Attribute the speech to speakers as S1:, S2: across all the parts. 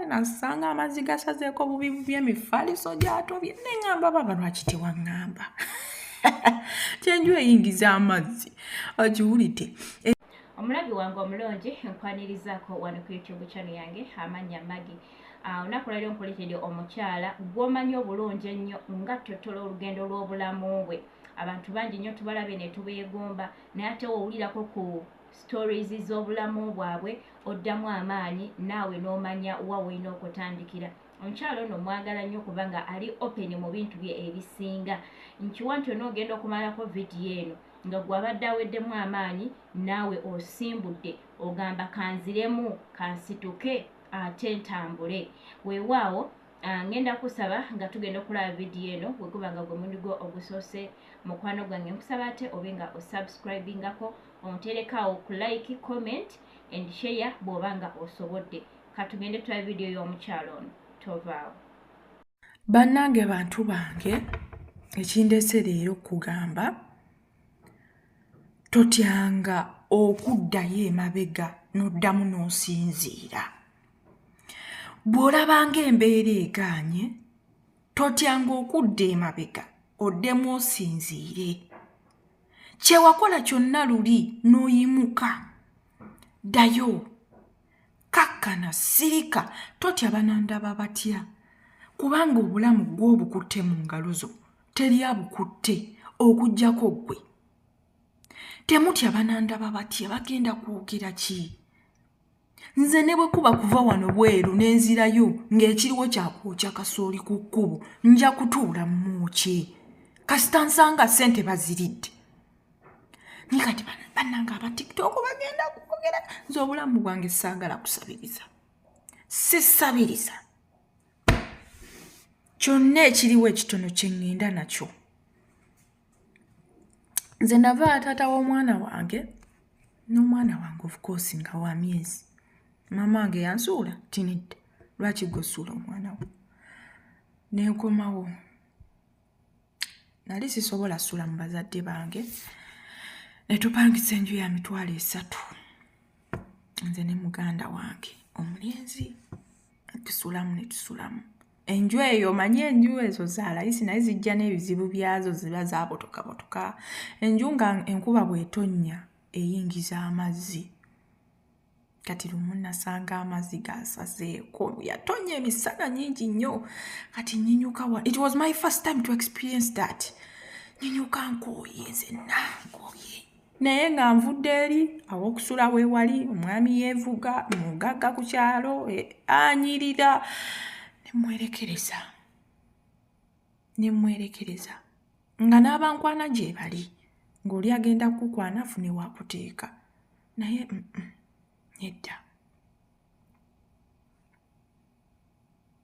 S1: nasanga amazzi gasazeeko bubi bubi emifaliso gyatobye neŋamba baba lwaki tewaŋŋamba kyenju eyingiza amazzi ogiwulidde
S2: omulabi wange omulungi nkwanirizaako wano ku youtube chano yange amannya magi ah, olunaku lwaliro nkuletedde omukyala gwomanyi obulungi ennyo nga ttotola olugendo lw'obulamu bwe abantu bangi nnyo tubalabye ne tubeegomba naye ate wowulirako ku stories z'obulamu bwabwe oddamu amaanyi naawe n'omanya wa wolina okutandikira omukyalo ono mwagala nnyo kubanga ali open mu bintu bye ebisinga nkiwa nti onoogenda okumalako vidiyo eno nga gwabadde aweddemu amaanyi naawe osimbudde ogamba kanziremu kansituke ate ntambule weewaawo ah, ngenda kusaba nga tugenda okulaba vidiyo eno weguba nga gwe mundi gwo ogusoose mukwano gwange nkusaba ate obe nga osubscribingako onterekawo ku like comment and share bwoba nga osobodde katugende tula vidiyo y'omukyalo ono tovaawo
S1: bannange bantu bange ekindese leero okugamba totyanga okuddayo emabega n'oddamu n'osinziira bw'olabanga embeera egaanye totyanga okudda emabega oddemu osinziire kyewakola kyonna luli n'oyimuka ddayo kakkana sirika totya banandaba batya kubanga obulamu gw'obukutte mu ngalo zo teri abukutte okugyako ggwe temutya banandaba batya bagenda kwogera ki nze ne bwe kuba kuva wano bweru n'enzirayo ng'ekiriwo kyakwokya kasooli ku kkubo nja kutuula mumwokye kasita nsanga ssente baziridde ni kati bannanga aba tiktok bagenda kwogera nze obulamu bwange saagala kusabiriza sisabiriza kyonna ekiriwo ekitono kye ŋŋenda nakyo nze nava taata w'omwana wange n'omwana wange ofukoosi nga wa myezi maama wange yansuula tinidde lwaki gwesuula omwana wo nenkomawo nali sisobola sula mu bazadde bange netupangisa enju ya mitwalo esatu nze ne muganda wange omulenzi tusulamu netusulamu enju eyo omanyi enju ezo zalayisi naye zijja n'ebizibu byazo ziba zabotokabotoka enju nga enkuba bwetonnya eyingiza amazzi kati lumu nasanga amazzi gasazeeko yatonnya emisana nyingi nnyo kati nyinyuka wa it was my first time to experience that nyinyuka nkooye zenna nkooye naye nga nvudde eri awokusula wewali omwami yevuga mugagga ku kyalo e, anyirira nemwerekereza nemwerekereza nga n'abankwana gyebali ng'oli agenda kukukwana afune wakuteeka naye mm -mm, nedda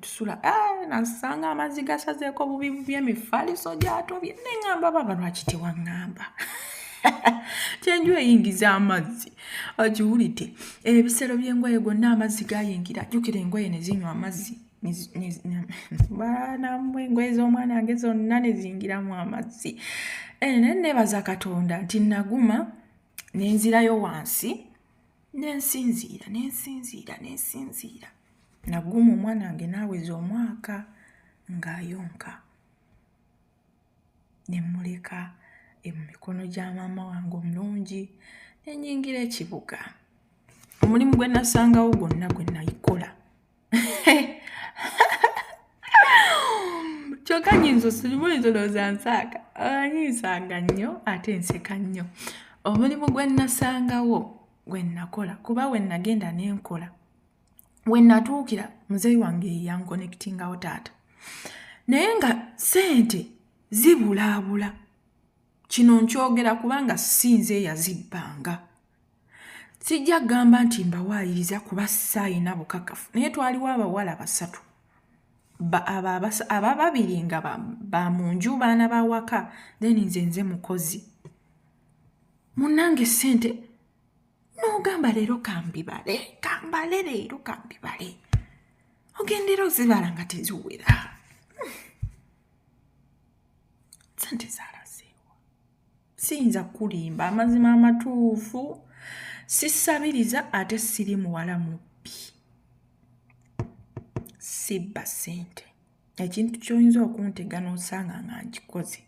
S1: tusula eh, nasanga amazzi gasazeeko bubi bubi emifaliso gyatobye neŋamba baba lwaki tewaŋŋamba kyenju eyingiza amazzi ogiwulidde ebisero by'engoye gonna amazzi gayingira jjukira engoye ne zinywa amazzi baanamu engoye z'omwana wange zonna ne ziyingiramu amazzi eh, naye neebaza katonda nti naguma nenzirayo wansi nensinziira nensinziira nensinziira naguuma omwana wange naaweza omwaka ng'ayonka ne mmuleka mu mikono gya maama wange omulungi nenyingira ekibuga omulimu gwe nasangawo gwonna gwe nayikola kyokka nyinza osirimu oyinza olowooza nsaaka ah, nyinsanga nnyo ate nseka nnyo omulimu gwe nnasangawo gwe nnakola kuba we nnagenda ne nkola we nnatuukira muzeeyi wange yeyankonekitingawo taata naye nga ssente zibulaabula kino nkyogera kubanga si nze eyazibbanga sijja kugamba nti mbawaayiriza kuba saayina bukakafu naye twaliwo abawala basatu aba babiri nga ba mu nju baana bawaka then nze nze mukozi munange sente nogamba leero kambibale kambale leero kambibale ogendera ozibala nga teziwera hmm. sente zala siyinza kukulimba amazima amatuufu sisabiriza ate siri muwala mubbi sibba sente ekintu kyoyinza okuntega nosanga nga nkikoze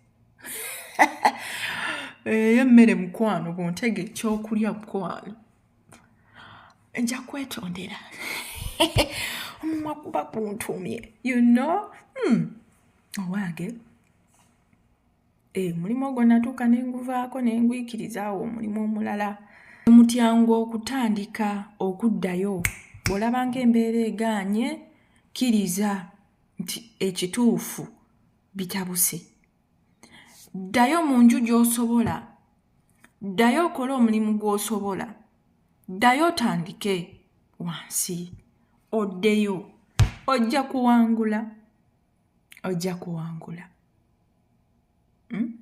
S1: eyo emmere mukwano buntega ekyokulya mukwano nja kwetondera omumwa kuba kuntumye you know hmm. owange oh, Eh, omulimu ogwo natuuka ne nguvaako ne ngwikiriza awo omulimu omulala mutyangu okutandika okuddayo bw'olaba ng'embeera egaanye kkiriza nti ekituufu bitabuse ddayo mu nju gy'osobola ddayo okole omulimu gw'osobola ddayo otandike wansi oddeyo ojja kuwangula ojja kuwangula hmm?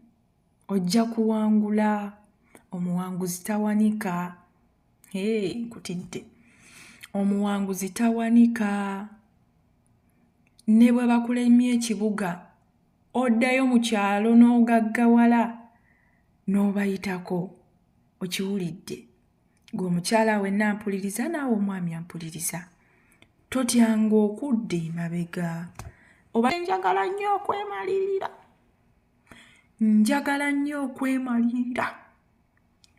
S1: ojja kuwangula omuwanguzi tawanika hey, nkutidde omuwanguzi tawanika ne bwe bakulemye ekibuga oddayo mu kyalo n'ogaggawala n'obayitako okiwulidde gwe omukyala wenna ampuliriza naawe omwami ampuliriza totyanga okudda emabega oba njagala nnyo okwemalirira njagala nnyo okwemalirira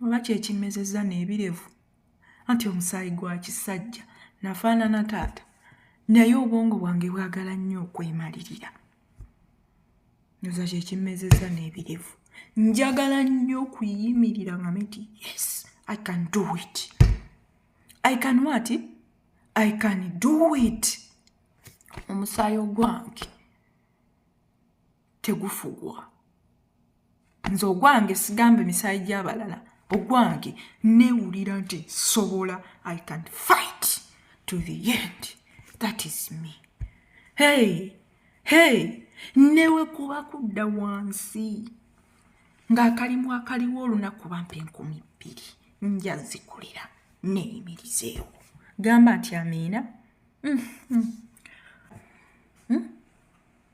S1: oba kyekimmezezza n'ebirevu anti omusaayi gwa kisajja nafaanana taata naye obwongo bwange bwagala nnyo okwemalirira nyoza kyekimmezeza n'ebirevu njagala nnyo okuyimirira nga miti yes i can do it i can what i can do it omusaayi ogwange tegufugwa nze ogwange sigambe misaayi gyabalala ogwange newulira nti sobola i can fight to the end that is me hey hey newekuba kudda wansi ng'akalimu akaliwo olunaku bampa enkumi bbiri nja zikulira neyimirizeewo gamba nti amiina mm -hmm. mm?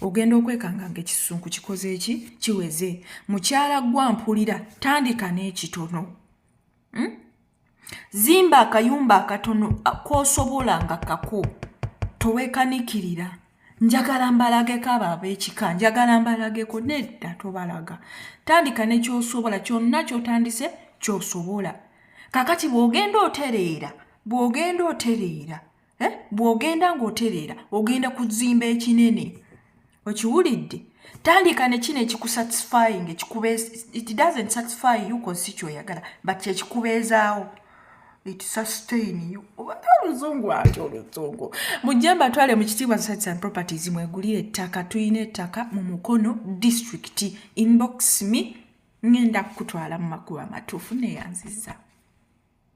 S1: ogenda okwekanga nga ekisunku kikoze eki kiweze mukyala gwampulira tandika n'ekitono hmm? zimba akayumba akatono kosobola nga kako towekanikirira njagala mbalageko abo abekika njagala mbalageko nedda tobalaga tandika nekyosobola kyonna kyotandise kyosobola kakati bwogenda otereera bwogenda otereera eh? bw'ogenda ng'otereera ogenda kuzimba ekinene okiwulidde tandika ne kino ekikusatisfying it doesn't satisfy you kosi kyoyagala but kyekikubeezaawo it sustain you obadde oluzungu ati oluzungu mujje mbatwale mu kitiibwa sites and properties mwegulire ettaka tulina ettaka mu mukono district inbox me ngenda kukutwala mu makubo amatuufu neyanziza